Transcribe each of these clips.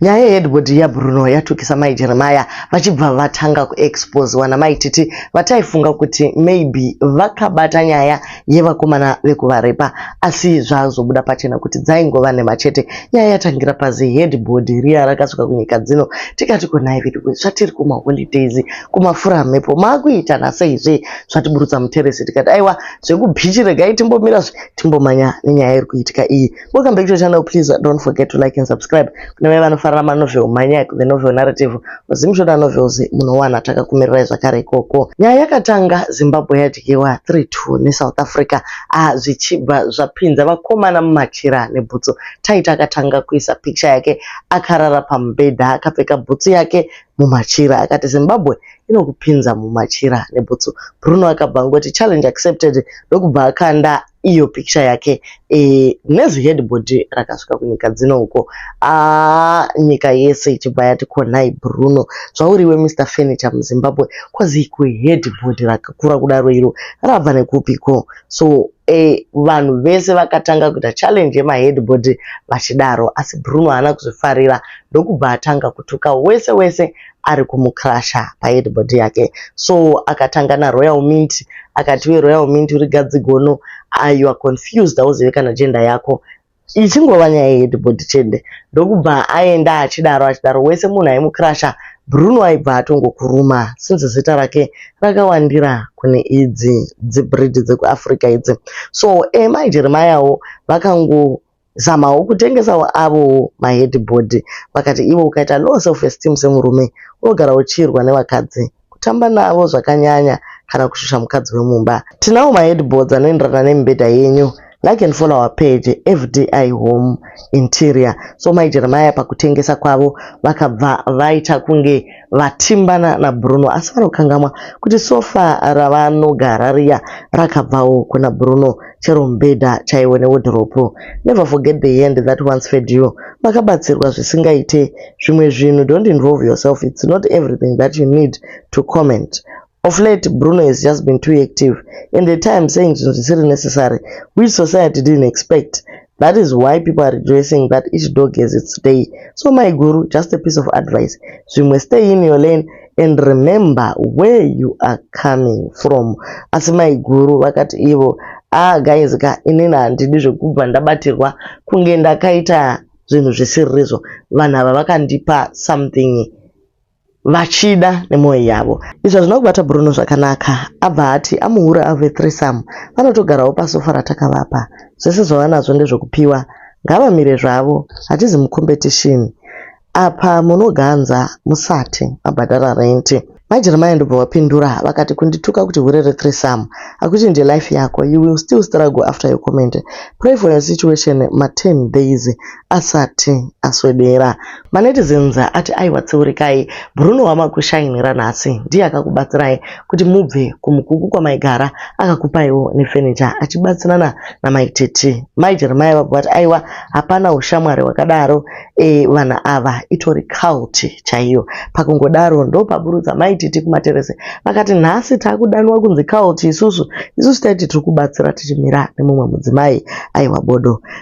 Nyaya yeheadboard yaBruno yatukisa mai Jeremiah vachibva vatanga kuexposewa namai Titi vataifunga kuti maybe vakabata nyaya yevakomana vekuvarepa asi zvazobuda pachena kuti dzaingova nhema chete. Nyaya yatangira paziheadboard riya rakasvika kunyika dzino tikati konai veduwe zvatiri kumaholidays kumafura mhepo maakuita nasei zve zvatiburutsa muteresi tikati aiwa zvekubhichi regai timbomira zve timbomanya nenyaya iri kuitika iyi. Welcome back to the channel. Please uh, don't forget to like and subscribe. Kune vaya vanofarira manovel, manyak, the novel narrative, zimshoda novels munowana takakumirirai zvakare ikoko. Nyaya yakatanga Zimbabwe yadyiwa 3-2 neSouth Africa ah, zvichibva zvapinza vakomana mumachira nebhutsu. Taita akatanga kuisa pikicha yake akarara pamubhedha akapfeka bhutsu yake mumachira akati zimbabwe inokupinza mumachira nebhutsu bruno akabva angoti challenge accepted ndokubva akanda iyo pikicha yake e, nezihedbhodhi rakasvika kunyika dzino uko aa ah, nyika yese ichibva yati konai bruno zvauriwe mr furniture muzimbabwe kwazi iko hedbhodhi rakakura kudaro iro rabva nekupiko so e, vanhu vese vakatanga kuita challenge yemahedbhodhi vachidaro asi bruno haana kuzvifarira ndokubva atanga kutuka wese wese ari kumucrusher paheadboard yake so akatanga naRoyal Mint akati iwe Royal Mint uri gadzi gono ah, you are confused hauzive kana gender yako ichingova nyaya yeheadboard chete ndokubva aenda achidaro achidaro wese munhu aimucrusher Bruno aibva atongokuruma since zita rake rakawandira kune idzi dzibreed dzekuAfrica idzi so Emma Jeremiahwo vakango Zamawo kutengesawo avowo maheadboard vakati ivo ukaita low self esteem semurume unogara uchiirwa nevakadzi, kutamba navo zvakanyanya kana kushusha mukadzi wemumba. Tinawo maheadboards anoenderana nemibhedha yenyu like and follow our page FDI Home Interior. So Mai Jeremiah pakutengesa kwavo vakabva vaita kunge vatimbana naBruno asi vanokangamwa kuti sofa ravanogara riya rakabvawo kuna Bruno chero mubhedha chaiwo newodhiropu. Never forget the hand that once fed you. Makabatsirwa zvisingaite. Zvimwe zvinhu don't involve yourself it's not everything that you need to comment. Of late, Bruno has just been too active and at times saying zvinhu zvisiri necessary which society didn't expect. That is why people are rejoicing that each dog has its day. So my guru, just a piece of advice. Zvimwe stay in your lane and remember where you are coming from. Asi my guru vakati ivo, ah guys ka inini handidi zvekubva ndabatirwa kunge ndakaita zvinhu zvisirizvo. Vanhu ava vakandipa something vachida nemwoyo yavo izvi hazvina kubata bruno zvakanaka abva ati amuhura ave threesome vanotogarawo pasofa ratakavapa zvese zvavanazvo ndezvekupiwa ngavamire zvavo hatizi mucompetition apa munoganza musati mabhadhara renti majeremaya ndobva vapindura vakati kundituka kuti hure rethreesome hakuti ndilife yako you will still struggle after your comment pray for your situation ma 10 days Asati aswedera, manetizens ati aiwa tseurekai, Bruno wamakushainira nhasi ndiye akakubatsirai kuti mubve kuMukuku kwamaigara akakupaiwo nefurniture achibatsirana namai Tete. Mai Jeremiah vabva vati aiwa hapana hushamwari hwakadaro eh vanhu ava itori cult chaiyo. Pakungodaro ndopaburutsa mai Tete kumateresi vakati nhasi takudanwa kunzi cult isusu, isusu taiti tiri kubatsira tichimira nemumwe mudzimai aiwa bodo.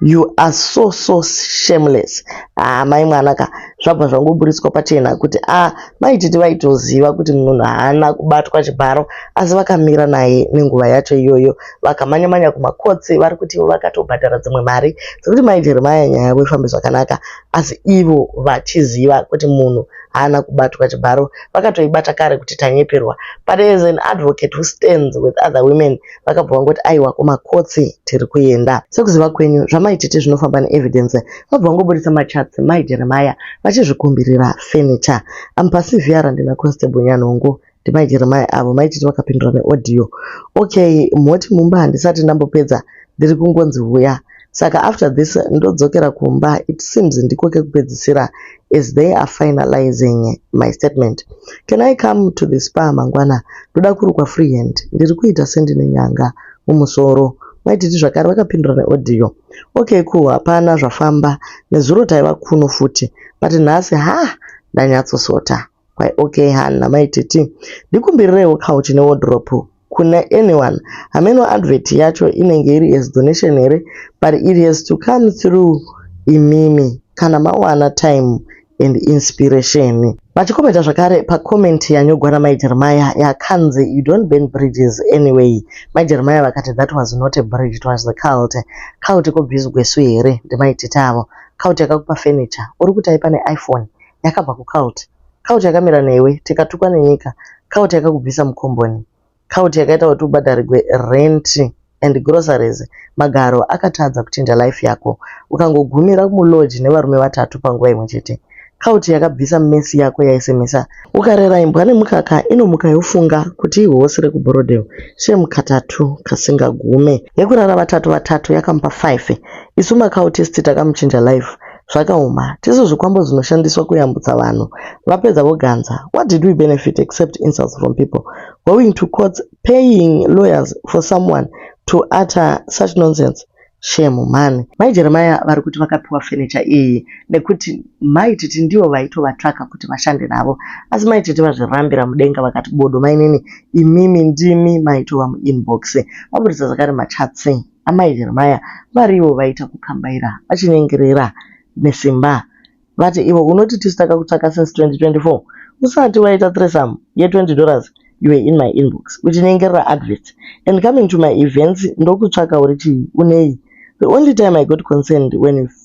You are so so shameless. Ah, mai mwana ka zvabva zvangoburitswa pachena kuti ah, mai titi vaitoziva kuti munhu haana kubatwa chibharo asi vakamira naye nenguva yacho iyoyo vakamanya manya kumakotsi vari kuti ivo vakatobhadhara dzimwe mari dzekuti mai Jeremiah nyaya yavo ifambe zvakanaka asi ivo vachiziva kuti munhu haana kubatwa chibharo vakatoibata kare kuti tanyeperwa but as an advocate who stands with other women vakabva vangoti aiwa kumakotsi tiri kuenda sekuziva kwenyu zvamaitete zvinofamba neevidence vabva vangoburitsa machats mai jeremaya vachizvikumbirira furniture ampasivhiya randina constable nyanhongo ndimai jeremaya avo maitete vakapindura neaudio okay mhoti mumba handisati ndambopedza ndiri kungonzi huya Saka after this ndodzokera kumba it seems ndiko kekupedzisira as they are finalizing my statement. Can I come to the spa mangwana? Ndoda kurukwa free hand. Ndiri kuita sendine nyanga mumusoro. Maititi zvakare vakapindura neaudio. Okay cool hapana zvafamba. Nezuro taiva kuno futi. But nhasi ha ndanyatsosota. Why okay Hannah, mai Titi, ndikumbirirewo couch ne wardrobe kuna anyone. Hameno advert yacho inenge iri as donation here but it has to come through imimi kana mawana time and inspiration. Vachikomenta zvakare pacomment yanyogwa namai Jeremiah yakanzi you don't burn bridges anyway. Mai Jeremiah vakati that was not a bridge, it was the cult. Cult ko bhizi gwesu here? Ndimai Titi avo. Cult yakakupa furniture, uri kuti aipa ne iPhone? yakabva kucult cult yakamira newe tikatukwa nenyika cult yakakubvisa mukomboni cult yakaita kuti ubhadharirwe rent and groceries magaro akatadza kuchinja life yako ukangogumira mulodge nevarume vatatu panguva imwe chete cult yakabvisa mesi yako yaisemesa ukarera imbwa nemukaka inomuka yofunga kuti ihosi rekubhorodheo shem katatu kasingagume yekurara vatatu vatatu yakamupa 5 isu macautist takamuchinja life Zvakaoma. Tisu zvikwambo zvinoshandiswa kuyambutsa vanhu. Vapedza voganza. What did we benefit except insults from people? Going to courts, paying lawyers for someone to utter such nonsense. Shame mhani. Mai Jeremiah vari kuti vakapiwa furniture iyi nekuti mai Titi ndivo vaitovatsvaka kuti vashande navo. Asi mai Titi vazvirambira mudenga vakati bodo mainini imimi ndimi maitova muinbox. Vaburitsa zvakare machatsi. Amai Jeremiah varivo vaita kukambaira vachinyengerera nesimba vati ivo unoti tisu takakutsvaka since 2024 usati waita threesome ye 20 dollars you were in my inbox uchinyengerera adverts and coming to my events ndokutsvaka uri chii unei the only time i got concerned when you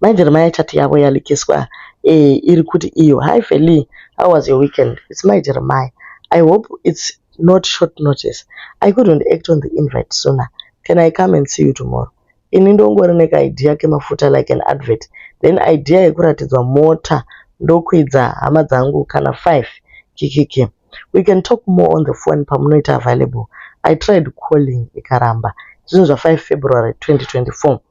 Mai vhiri mai chati yavo yalikiswa eh iri kuti iyo. Hi Veli how was your weekend it's mai Jeremiah I hope it's not short notice I couldn't act on the invite sooner can I come and see you tomorrow ini ndongori neka idea kemafuta like an advert then idea yekuratidzwa mota ndokwidza hama dzangu kana five kikiki we can talk more on the phone pamunoita available I tried calling ikaramba zvinhu zva 5 February 2024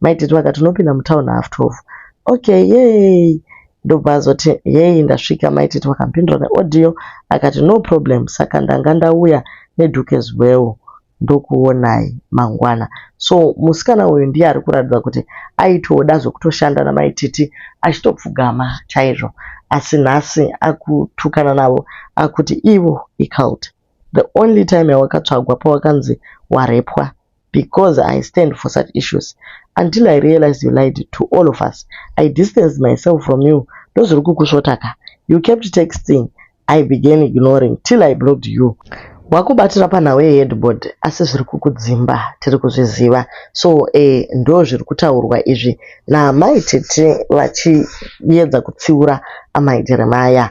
Mai Titi vakati unopinda mutown half 12. Okay, yay! Ndobva azoti yay ndasvika mai Titi vakampindura neaudio akati no problem saka ndanga ndauya neduke zubeo ndokuonai mangwana. So musikana uyu ndiye ari kuratidza kuti aitoda zvekutoshanda namai Titi achitopfugama chaizvo asi nhasi akutukana navo akuti ivo icult the only time yawakatsvagwa pawakanzi warepwa Because I stand for such issues until I realized you lied to all of us. I distanced myself from you ndozviri kukusvota ka. You kept texting I began ignoring till I blocked you. Wakubatira panhau yeheadboard asi zviri kukudzimba tiri kuzviziva so eh, ndo zviri kutaurwa izvi naamai Tete vachiedza kutsiura amai Jeremiah.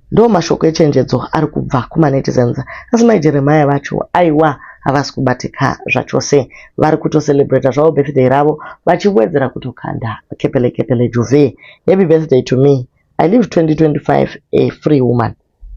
Ndo mashoko echenjedzo ari kubva kumanetizens asi mai Jeremiah vacho aiwa havasi kubatika zvachose vari kutocelebrata zvavo birthday ravo vachiwedzera kutokanda kepele kepele juve happy birthday to me I live 2025 a free woman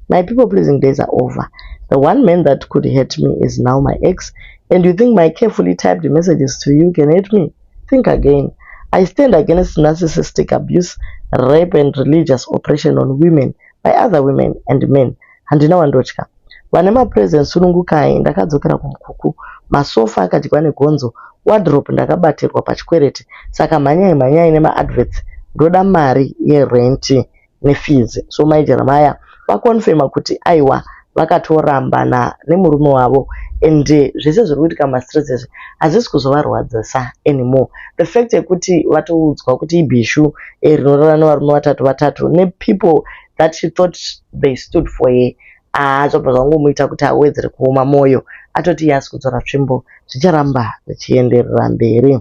my people pleasing days are over the one man that could hurt me is now my ex and you think my carefully typed messages to you can hurt me Think again. I stand against narcissistic abuse, rape and religious oppression on women by other women and men. Handina wandotya. Vane mapresent sunungukai ndakadzokera kumukuku. Masofa akadyiwa negonzo, wardrobe ndakabatirwa pachikwereti. Saka mhanyai mhanyai nemaadverts. Ndoda mari yerent nefees so mai Jeremiah vaconfirmer kuti aiwa vakatorambana nemurume wavo and zvese zviri kuitika mumastreets izvi hazvisi kuzovarwadzisa anymore the fact yekuti vatoudzwa kuti ibhishu eh, rinorara nevarume vatatu vatatu nepeople that she thought they stood for her aa ah, zvabva zvangomuita kuti awedzere kuoma mwoyo atoti iye asi kudzora tsvimbo zvicharamba zvichienderera mberi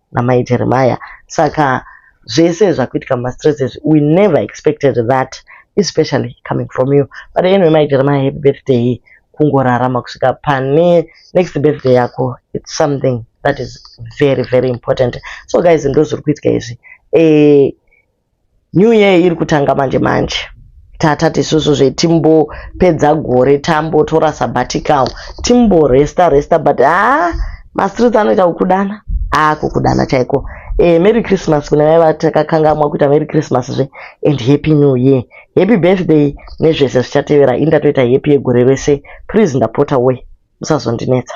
namai Jeremiah saka zvese zvakuitika mumastresses we never expected that especially coming from you but anyway mai Jeremiah happy birthday kungorarama kusvika pane next birthday yako it's something that is very very important so guys ndozviri kuitika izvi eh, New year iri kutanga manje manje tatati isusu zve timbopedza gore tambotora sabbatical timbo resta resta but haa ah, mastreets anoita kukudana aa ah, kukudana chaiko eh, merry christmas kune vaiva takakangamwa kuita merry christmas zve and happy new year happy birthday nezvese zvichatevera ini ndatoita happy yegore rese please ndapota we musazondinetsa